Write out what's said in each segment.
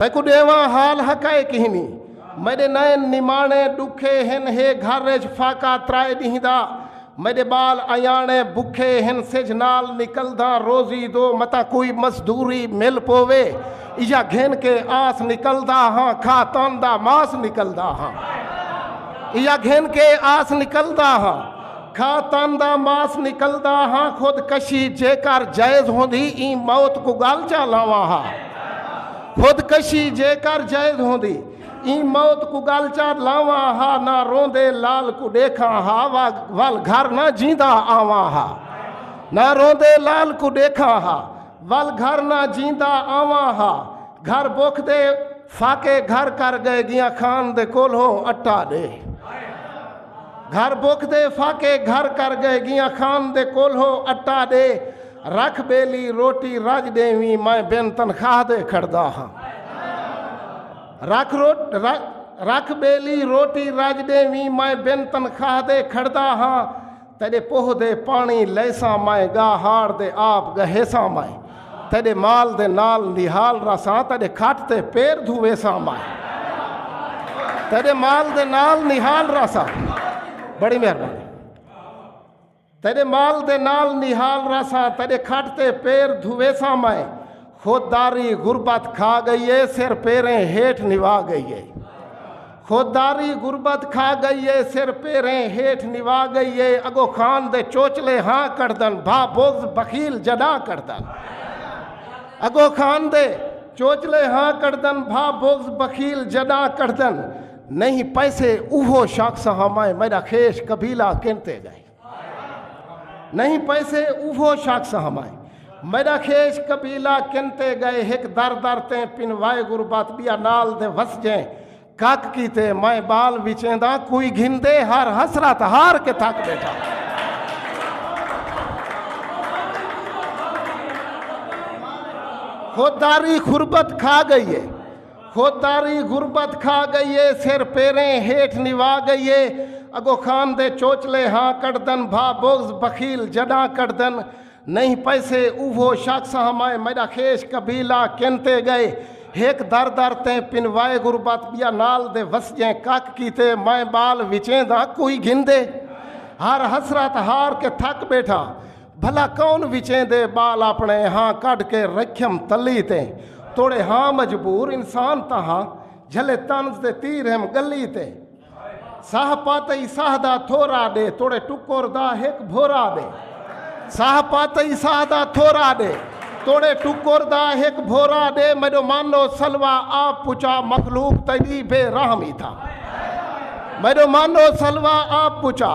تیکوں ݙیواں حال حقائے کہنی میݙے نئن نماݨے ݙکھے ہن ہے گھر اچ فاقہ ترائے ݙینہہ دا میݙے ٻال ایاݨے بکھے ہن سجھ نال نکلداں روزی دو متاں کوئی مزدوری مل پووے ایہا گھن کے آس نکلدا ہاں کھا تن دا ماس نکلدا ہاں ایہا گھن کے آس نکلدا ہاں کھا تن دا ماس نکلدا ہا خود کشی جیکر جائز ہوندی ایں موت کوں گل چا لاواں ہا خود کشی جیکر جائز ہوندی ایں موت کوں گل چا لاواں ہا نہ روندے لال کوں ڈیکھاں ہا ول گھر نہ جیندا آواں ہا نہ روندے لال کوں ڈیکھاں ہا ول گھر نہ جیندا آواں ہا گھر بوکھ دے فاقے گھر کر گئے گیاں خان دے کولھو اٹا دے گھر بھک دے فاقے گھر کر گئے گیاں خان دے کولھو اٹا ڈے رکھ بیلی روٹی رج ڈیویں میں بن تنخواہ دے کھڑدا ہاں رکھ روٹ رکھ بیلی روٹی رج ڈیویں میں بن تنخواہ دے کھڑدا ہاں تیرے پوہ دے پانی لیساں میں گا ہار دے آپ گہیساں میں تیڈے مال دے نال نہال رہساں تیڈے کھٹ تے پیر دھو ویساں مائے تیڈے مال دے نال نہال رہساں بڑی مہربانی تیڈے مال دے نال نہال رہساں تیڈے کھٹ تے پیر دھو ویساں مائے خود داری غربت کھا گئی ہے سر پیریں ہیٹ نوا گئی ہے خود داری غربت کھا گئی اے سر پیریں ہیٹھ نوا گئی اے اگو خان دے چوچلے ہاں کڑدن بھا بغض بخیل جڈا کڑدن اگو خان دے چوچلے ہاں کڑدن بھا بغض بخیل جڈا کڑدن نہیں پیسے اوہو شخص ہاں میں میرا خیش قبیلہ کنتے گئے نہیں پیسے اوہو شخص ہمائیں میرا خیش قبیلہ کنتے گئے ہک در در تے پنوائے غربت بیا نال دے وس جائیں کک کیتے میں بال وچیں دا کوئی گھن دے ہر حسرت ہار کے تھک بیٹھا خودداری خربت کھا گئی ہے خودداری غربت کھا گئی اے سر پیریں ہیٹھ نوا گئی اے اگو خان دے چوچلے ہاں کڈدن بھا بغض بخیل جڈاں کڈدن نہیں پیسے اوہو شخص ہمائے میڈا خیش قبیلہ کن تے گئے ہک در در تیں پنوائے غربت بیا نال دے وسجیں کک کیتے مائیں بال وچیں دا کوئی گھندے ہر حسرت ہار کے تھک بیٹھا بھلا کون وچیں دے بال اپنے ہاں کڈھ کے رکھیم تلی تے توڑے ہاں مجبور انسان تاں ہاں جھلے طنز دے تیر ہیم گلی تے ساہ پاتئی ساہ دا تھورا ڈے توڑے ٹکور دا ہک بھورا ڈے ساہ پاتئی ساہ دا تھورا ڈے توڑے ٹکور دا ہک بھورا ڈے میڈو مانو سلوا آپ پچا مخلوق تیری بے رحمی تھا میڈو مانو سلوا آپ پچا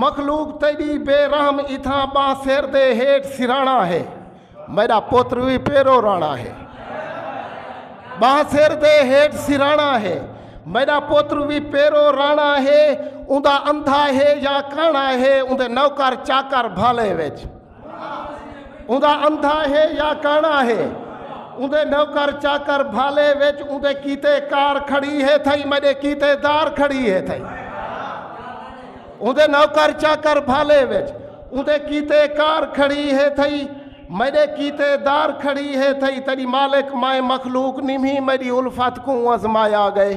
مخلوق تیݙی بے رحم اتھاں ٻاں سر دے ہیٹھ سراݨا ہے میݙا پتر وی پیرو راݨا ہے ٻاں سر دے ہیٹھ سراݨا ہے میݙا پتر وی پیرو راݨا ہے اوندا اندھا ہے یا کاݨا ہے اوندے نوکر چاکر بھالے وچ اوندا اندھا ہے یا کانا ہے اندے نوکر چاکر بھالے وچ اندے کیتے کار کھڑی ہے تھئی میڈے کیتے دار کھڑی ہے تھئی اندے نوکر چاکر بھالے وچ اندے کیتے کار کھڑی ہے تھئی میڈے کیتے دار کھڑی ہے تھئی تیری مالک مائے مخلوق نیمی میری الفت کو ازمایا گئے